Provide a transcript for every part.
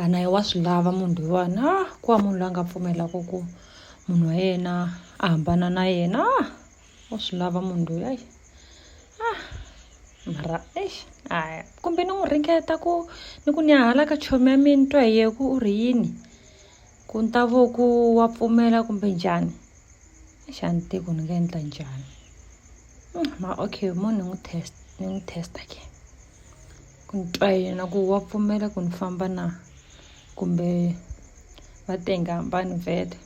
a na ye wa swi lava munhu loyiwani a ku wa munhu loyi a nga pfumelaka ku munhu wa yena a hambana na yena a wa swi lava munhu loyi ayi a mara eish aya kumbe ni n'wi ringeta ku ni ku ni ya hala ka chomi ya mina ni twa hi ye ku u ri yini ku ni ta vo ku wa pfumela kumbe njhani xa ni tivi ku ni nga endla njhani ma okay mo ni n'wi test ni n'wi test-a ke. ku ni twa yena ku wa pfumela ku ni famba na kumbe va te nga hambani vhele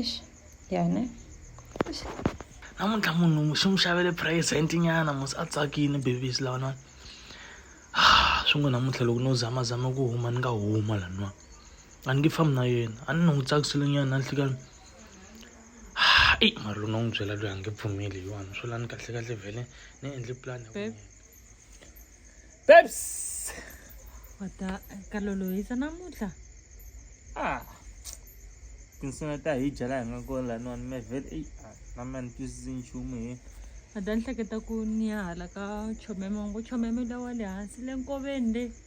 ixi ya ne namuntlha munhu xi n'wi xavele present nyana musi a tsakile babies lawanani ah, swi ngo namuntlha loko no zamazama ku huma ni nga huma lanwa a ni nge fambi na yena a ni ni n'wi tsakisile nyana na nhlikani eyi mara loko no n'wi byela loyi a nge pfumeli hi wani swo lani kahlekahle vhele ni endle pulani ya babes wata ka lolohisa namuntlha ah tinsuna ta hi dya laha hi nga kona laniwani me vele eyi ah, na mina ni twisisi nchumu hi a ta ni hleketa ku ni ya hala ka chomeme ngo chomeme lawa le hansi le nkoveni le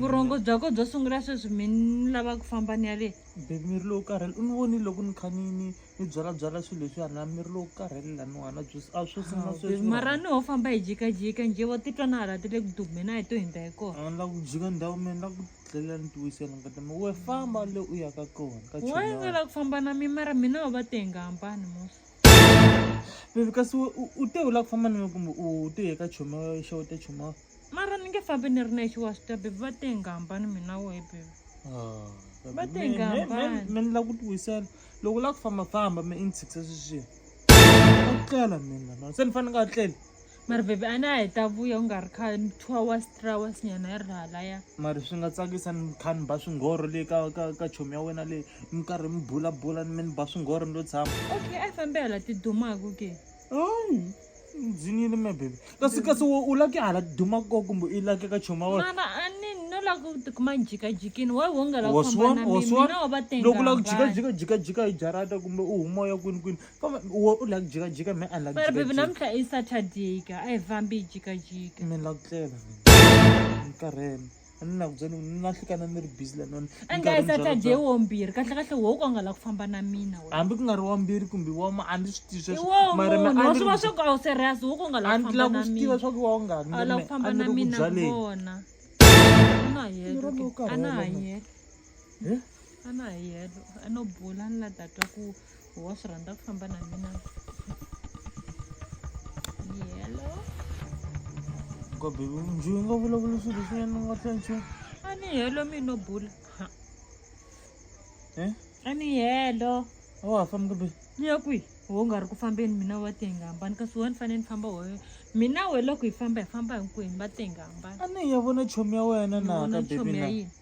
vurhongo bya ko byo sungula sweswi mi ni lava ku famba ni ya le baby mi ri lowu karhele u ni vonile loko ni kha ni ni ni byalabyala swilo leswiya na mi ri lowu karhele laniwana byo a swo sungula sweswi mara ni ho famba hi jikajika njhe vo titwa na hala ti le ku dume na hi to hindza hi kona a ni lava ku jika ndhawu mina ni lava ku dlela ni tiwisela ngati mi we famba le u ya ka kona ka wa chona nga lava ku famba na mi mara mina ho va te hi nga hambani musa baby kasi we u- u te u lava ku famba na mina kumbe u te ye ka choma xeweta choma mara ni nge fambi ni ri nexe wa swi tiva bebi va te hi nga hambani mina wehe bebi Ah, Va te hi nga me- me- me- hambani. me ni lava ku ti wisela loko u lava ku famba famba me i ni tshikisa sweswiya a ku tlela mina no se ni fanele nga tleli mara bebi a na ha yi ta vuya u nga ri kha two hours three hours nyana yi ri halaya mari swi nga tsakisa ni kha ni ba swinghoro le ka ka ka chomi ya wena leyi mi karhi mi bulabula ni me ni ba swinghoro ni lo tshama okay a yi fambi hala ti dumaku ke ndzi nile me baby kasi kasi u laki hala duma ko kumbe i laki ka choma wa mama a ni no la ku tikuma jikajikini wa wo nga la ku fambana mina wa va tenga loko la ku jikajika jikajika hi jarata kumbe u huma ya kwini kwini kambe wo u la ku jikajika me a la ku jikajika baby namuntlha i saturday ka a hi fambi jikajika mi la ku tlela ni karhele a ni na ku byela ni na hlekana ni ri busy lanoni angayi se a ta dye wombirhi kahle kahle wo ku a nga la ku famba na mina hambi ku nga ri wambirhi kumbe wama a ni swi tivi sweswomaraswi swi va swa ku a wu serious wo ku nga la ku famba na mina a ni la ku swi tiva swa ku wa u nga a la ku famba na mina vona a na ha yele a na ha yele Eh? a na ha yelo a no bula ni la tatwa ku wa swi rhandza ku famba na mina yelo ko bebi njhu yi nga vulavula swilo swinene ni nga twa nchumu a ni helo mi no bula Ha. Eh? a ni helo a wa ha fambi bebi ni ya kwihi wo nga ri ku fambeni mina wa tenga hambani kasi wa ni fanele ni famba woyo mina we loko hi famba hi famba hinkwenu va tenga hambani a ni ya vona chomi ya wena na Vona ka bebi chomi ya na yini?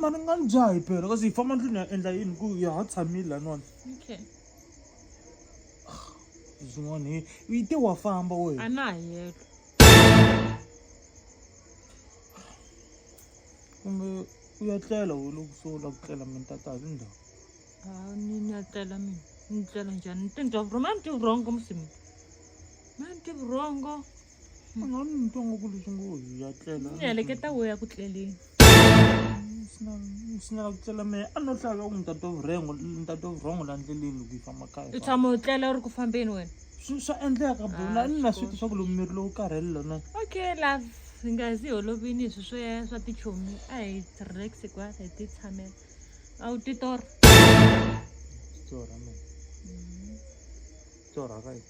mani nga ni dzaha hi pela kasi hi famba ndlwini ya endla yini ku ya ha tshamile laniwani okay zin'wana he u yi te wa famba wena a na ha yelo kumbe u ya tlela we loko so u lava ku tlela mina tata hi ndhawu a ni ni ya tlela mina ni tlela njhani ni tindza vurhongo a ni ti vurhongo musimi ma ni ti vurhongo munhu wa nitsongo ku leswi ngo hi ya tlela ni heleketa wo ya ku tleleni sina ku tlela mehe a no hlaka ku ntate vurengo ntate vurongo la ndleleni loko yi famba kaya u tshama u tlela u ri ku fambeni wena swa endleka bula ah, ni na swi ti swa ku lomu miri lowu karhele lona okay love hi nga zi holovini hi swi swo ya swa tichomi a hi relax kwala hi ti tshamela a wu titora titora mina mm-hmm. titora ka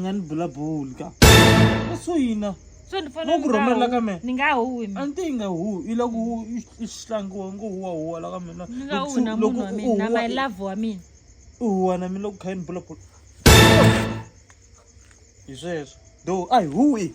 nga ni bula boli ka ka so yina so ni fanele Loko ni nga rhumela hu- ka mehe. ni nga huwi a mina ni te yi nga huwi yi lava ku hu- yi- yi hlangiwa ngo huwa huwa la ka mina ni nga huwi na Loko munhu wa u mina na huwa- my love wa mina u huwa na mina loko kha yi ni bula boli hi sweswo do a hi huwi